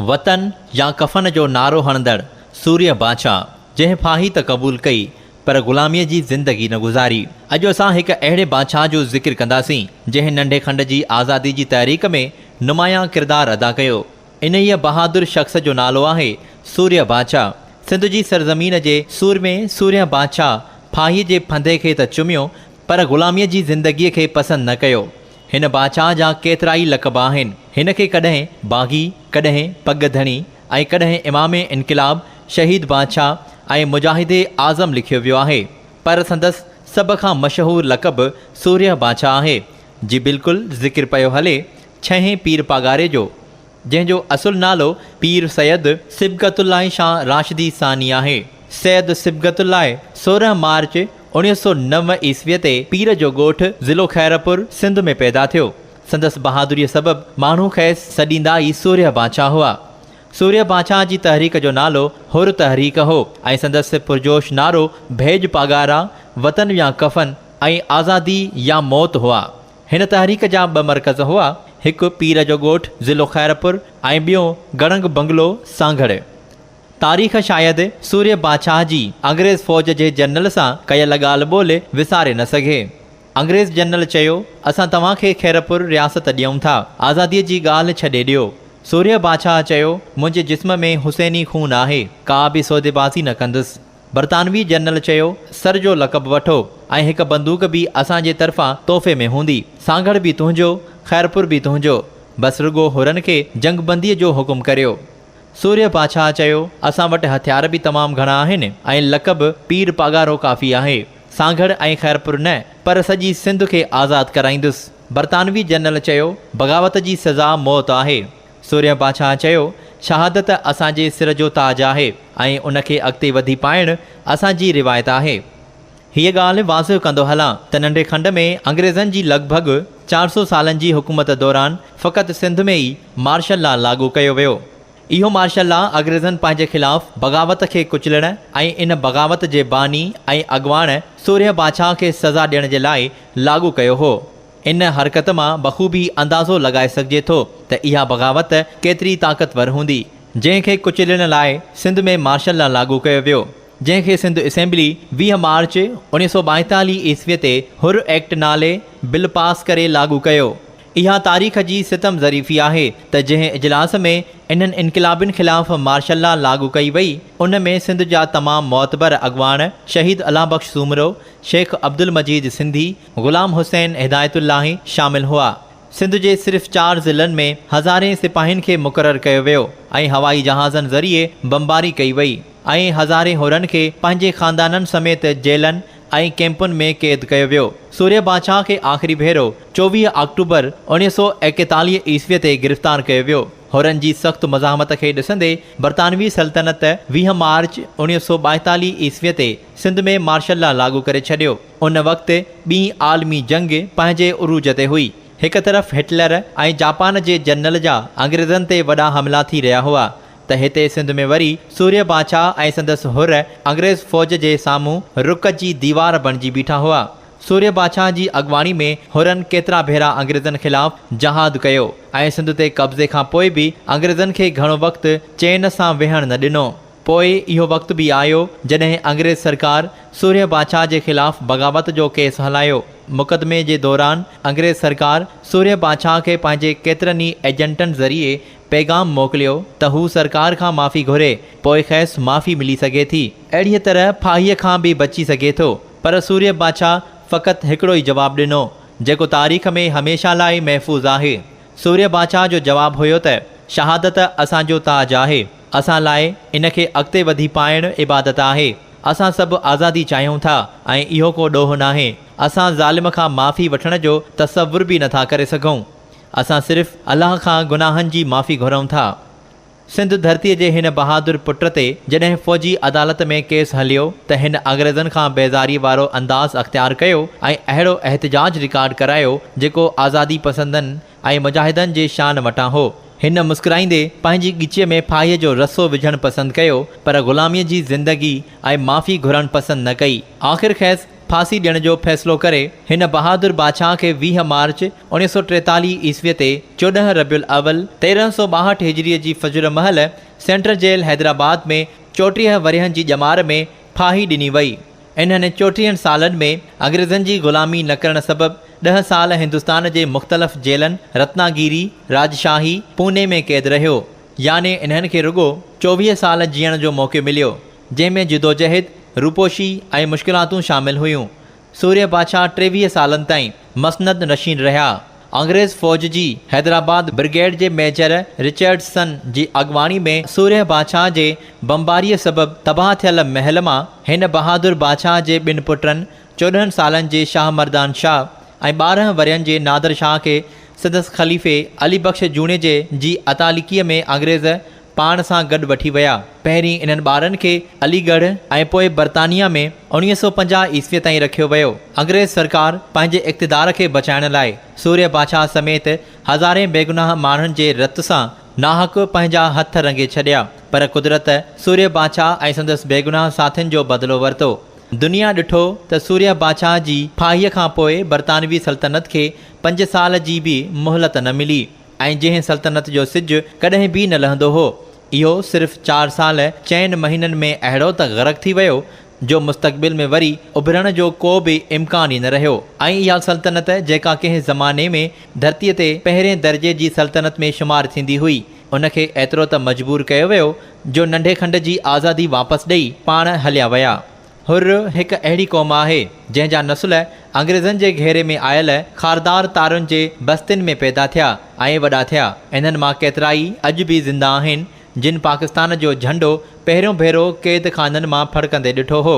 وطن يا ڪفن جو نعرو هڻندڙ سورهيه باچا، جنهن ڦاهي ته قبول ڪئي پر غلاميء جي زندگي نه گذاري. اڄ اسان هڪ اهڙي باچا جو ذڪر ڪنداسين، جنهن ننڍي کنڊ جي آزادي جي تحريڪ ۾ نمايان ڪردار ادا ڪيو. انهيء بهادر شخص جو نالو آهي سورهيه باچا. سنڌ جي سرزمين جي سورمي سورهيه باچا ڦاهيء جي ڦندي کي ته چميو پر غلاميء جي زندگيء کي پسند نه ڪيو. هن بادشاهه جا ڪيترائي لقب آهن. هن کي ڪڏهن باغي، ڪڏهن پڳ ڌڻي ۽ ڪڏهن امام انقلاب، شهيد بادشاهه ۽ مجاهد اعظم لکيو ويو آهي. پر سندس سڀ کان مشهور لقب سورهيه بادشاهه آهي، جي بلڪل ذڪر پيو هلي، ڇهين پير پاڳاري جو. جنهن جو اصل نالو پير سيد صبغت الله شاهه راشدي ثاني آهي. سيد صبغت الله سورهن مارچ اوڻيهه سؤ نو عيسويء تي پير جو ڳوٺ ضلعو خيرپور سنڌ ۾ پيدا ٿيو. سندس بهادريء سبب ماڻهو کيس سڏيندا ئي سورهيه بانشاهه هئا. سورهيه بانشاهه جي تحريڪ جو نالو حر تحريڪ هو ۽ سندس پرجوش نعرو ڀيڄ پاڳارا، وطن يا ڪفن ۽ آزادي يا موت هئا. هن تحريڪ جا ٻه مرڪز هئا، هڪ پير جو ڳوٺ ضلعو خيرپور ۽ ٻيو گڙنگ بنگلو سانگهڙ. تاريخ شايد سورهيه بادشاهه جي انگريز فوج جي جنرل سان ڪيل ڳالهه ٻولهه وساري نه سگهي. انگريز جنرل چيو، اسان توهان کي خيرپور رياست ڏيئون ٿا، آزاديء جي ڳالهه ڇڏي ڏيو. سورهيه بادشاهه چيو، منهنجي جسم ۾ حسيني خون آهي، ڪا به سوديبازي نه ڪندس. برطانوي جنرل چيو، سر جو لقب وٺو ۽ هڪ بندوق به اسان جي طرفان تحفي ۾ هوندي. سانگهڙ به تنهنجو، خيرپور به تنهنجو. بس رڳو حرن کي جنگبنديء جو حڪم ڪريو. سورهيه بادشاهه چيو، اسان وٽ هٿيار به تمام گهڻا آهن ۽ لقب پير پاڳارو ڪافي آهي. سانگهڙ ۽ خيرپور نه، پر سڄي سنڌ کي آزاد ڪرائيندس. برطانوي جنرل چيو، بغاوت جي سزا موت آهي. سورهيه بادشاهه چيو، شهادت اسان جي سر جو تاج آهي ۽ ان کي اڳتي وڌي پائڻ اسان جي روايت آهي. هيء ڳالهه واضح ڪندو هلان ته ننڍي کنڊ ۾ انگريزن جي لڳ ڀڳ چار سؤ سالن جي حڪومت دوران فقط سنڌ ۾ ئي مارشل لا لاڳو ڪيو ويو. اهو مارشل لا اڳريزن پنهنجي خلاف بغاوت کي ڪچلڻ ۽ ان بغاوت جي باني ۽ اڳواڻ سورهيه بادشاهه کي سزا ڏيڻ جي لاء لاڳو ڪيو هو. ان حرڪت مان بخوبي اندازو لڳائي سگهجي ٿو ته اها بغاوت ڪيتري طاقتور هوندي، جنهن کي ڪچلڻ لاء سنڌ ۾ مارشل لا لاڳو ڪيو ويو، جنهن کي سنڌ اسيمبلي ويهه مارچ اڻيهه سؤ ٻائيتاليهه عيسوي تي حر ايڪٽ نالي بل پاس ڪري لاڳو ڪيو. اها تاريخ جي ستم ظريفي آهي ته جنهن اجلاس ۾ انهن انقلابين خلاف مارشل لا لاڳو ڪئي وئي، ان ۾ سنڌ جا تمام معتبر اڳواڻ شهيد الله بخش سومرو، شيخ عبدالمجيد سنڌي، غلام حسين هدايت الاهي شامل هئا. سنڌ جي صرف چار ضلعن ۾ هزارين سپاهين کي مقرر ڪيو ويو ۽ هوائي جهازن ذريعي بمباري ڪئي وئي ۽ هزارين حرن کي پنهنجي خاندانن سميت جيلن ۽ ڪئمپن ۾ قيد ڪيو ويو. سوريه بادشاهه کي آخري ڀيرو چوويهه آڪٽوبر اوڻيهه سؤ ايڪيتاليهه عيسوي تي گرفتار ڪيو ويو. حرن جي سخت مزاحمت کي ڏسندي برطانوي سلطنت ويهه مارچ اوڻيهه سؤ ٻائيتاليهه عيسوي تي سنڌ ۾ مارشل لا لاڳو ڪري ڇڏيو. ان وقت ٻين عالمي جنگ پنهنجي عروج تي هئي. هڪ طرف هٽلر ۽ جاپان جي جنرل جا انگريزن تي وڏا حملا ٿي رهيا هئا ته هتي سنڌ ۾ وري سوريه بادشاهه ۽ سندس حر انگريز فوج جي سامهون رڪ جي ديوار بڻجي بيٺا هئا. سوريه بادشاهه جي اڳواڻي ۾ حرن ڪيترا ڀيرا انگريزن خلاف جهاد ڪيو ۽ سنڌ تي قبضي کان پوء به انگريزن کي گهڻو وقت چين سان ويهڻ نه ڏنو. پوء اهو وقت به آيو جڏهن انگريز سرڪار سورهيه بادشاهه جي خلاف بغاوت جو ڪيس هلايو. مقدمي جي دوران انگريز سرڪار سورهيه بادشاهه کي پنهنجي ڪيترن ئي ايجنٽن ذريعي پيغام موڪليو ته هو سرڪار کان معافي گهري، پوء کيس معافي ملي سگهي ٿي. اهڙيء طرح ڦاهيء کان به بچي سگهي ٿو. پر سورهيه بادشاهه فقط هڪڙو ئي جواب ڏنو، جيڪو تاريخ ۾ هميشه لاء محفوظ آهي. سورهيه بادشاهه جو جواب هيو ته، شهادت اسان جو تاج آهي. اسان لاء ان کي اڳتي وڌي پائڻ عبادت آهي. اسان سڀ آزادي چاهيون ٿا ۽ اهو ڪو ڏوهه ناهي. اسان ظالم کان معافي وٺڻ جو تصور به نٿا ڪري سگهون. اسان صرف الله کان گناهن جي معافي گهرون ٿا. سنڌ ڌرتيء جي هن بهادر پٽ تي جڏهن فوجي عدالت ۾ ڪيس هليو ته هن انگريزن کان بيزاريء وارو انداز اختيار ڪيو ۽ اهڙو احتجاج رڪارڊ ڪرايو جيڪو آزادي پسندن ۽ مجاهدن جي شان وٽان هو. هن مسڪرائيندي پنهنجي ڳچيء ۾ ڦاهيء جو رسو وجهڻ پسند ڪيو، پر غلاميء جي زندگي ۽ معافي گهرڻ پسند نه ڪئي. آخر کيس ڦاسي ڏيڻ جو فيصلو ڪري، هن بهادر بادشاهه کي ويهه مارچ اوڻيهه سؤ ٽيتاليهه عيسويء تي چوڏهن ربيع الاول تيرهن سؤ ٻاهٺ هجريء جي فجر مهل سينٽرل جيل حيدرآباد ۾ چوٽيهه ورهين جي ڄمار ۾ ڦاهي ڏني وئي. انهن چوٽيهن سالن ۾ انگريزن جي غلامي نه ڪرڻ سبب ڏهه سال هندستان جي مختلف جيلن رتنا گيري، راجشاهي، پوني ۾ قيد رهيو. يعني انهن کي رڳو چوويهه سال جيئڻ جو موقعو مليو، جنهن ۾ جدوجهد، روپوشي ۽ مشڪلاتون شامل هيون. سورهيه بادشاهه ٽيويهه سالن تائين مسند نشين رهيا. انگريز فوج جي حيدرآباد برگيڊ جي ميجر رچرڊسن جي اڳواڻي ۾ سورهيه بادشاهه جي بمباريء سبب تباهه ٿيل محل مان هن بهادر بادشاهه جي ٻن پٽن چوڏهن سالن جي شاهه مردان شاهه ۽ ٻارهن ورهين جي نادر شاهه کي سندس خليفي علي بخش جوڻيجي جي اتاليڪيء ۾ انگريز پاڻ سان گڏ وٺي ويا. پهرين انهن ٻارن کي علي ڳڙهه ۽ پوء برطانيه ۾ اوڻيهه سؤ پنجاهه عيسويء تائين رکيو ويو. انگريز سرڪار پنهنجي اقتدار کي بچائڻ لاء سورهيه بادشاهه سميت هزارين بيگناهه ماڻهن جي رت سان ناحق پنهنجا هٿ رنگي ڇڏيا، پر قدرت سورهيه بادشاهه ۽ سندس بيگناهه ساٿين جو بدلو ورتو. دنيا ڏٺو ته سورهيه بادشاهه جي ڦاهيء کان پوء برطانوي سلطنت کي پنج سال جي به مهلت نه ملي. ۽ جنهن سلطنت جو سج ڪڏهن به نه لهندو هو، اهو صرف چار سال چئن مهينن ۾ اهڙو ته غرق ٿي ويو، جو مستقبل ۾ وري اڀرڻ جو ڪو به امڪان ئي نه رهيو ۽ اها سلطنت جيڪا ڪنهن زماني ۾ ڌرتيء تي پهرين درجي جي سلطنت ۾ شمار ٿيندي هئي، ان کي ايترو ته مجبور ڪيو ويو، جو ننڍي کنڊ جي آزادي واپس ڏئي پاڻ هليا ويا. حر هڪ اهڙي قوم آهي، جنهن جا نسل انگريزن جي گهيري ۾ آيل خاردار تارن جي بستين ۾ پيدا ٿيا ۽ وڏا ٿيا. انهن مان ڪيترائي اڄ به زنده آهن، جن پاڪستان جو جهنڊو پهريون ڀيرو قيد خانن مان ڦڙڪندي ڏٺو هو.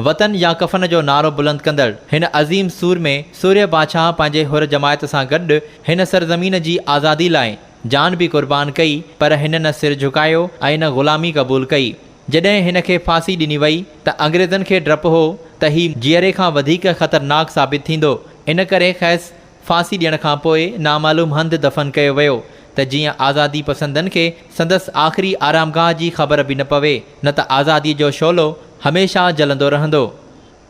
وطن يا ڪفن جو نعرو بلند ڪندڙ هن عظيم سورمي سورهيه بادشاهه پنهنجي حر جماعت سان گڏ هن سرزمين جي آزادي لاء جان به قربان ڪئي، پر هن نه سر جهڪايو ۽ نه غلامي قبول ڪئي. جڏهن هن کي ڦاسي ڏني وئي ته انگريزن کي ڊپ هو ته هي جيئري کان وڌيڪ خطرناڪ ثابت ٿيندو، ان ڪري کيس ڦاسي ڏيڻ کان پوء نامعلوم هنڌ دفن ڪيو ويو ته جيئن آزادي پسندن کي سندس آخري آرامگاهه جي خبر به نه پوي، نه ته آزاديء جو شعلو هميشه جلندو رهندو.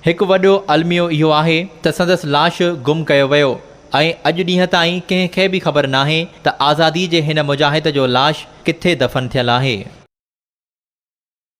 هڪ وڏو الميو اهو آهي ته سندس لاش گم ڪيو ويو ۽ اڄ ڏينهن تائين ڪنهن کي به خبر ناهي ته آزادي جي هن مجاهد جو لاش ڪٿي دفن ٿيل آهي.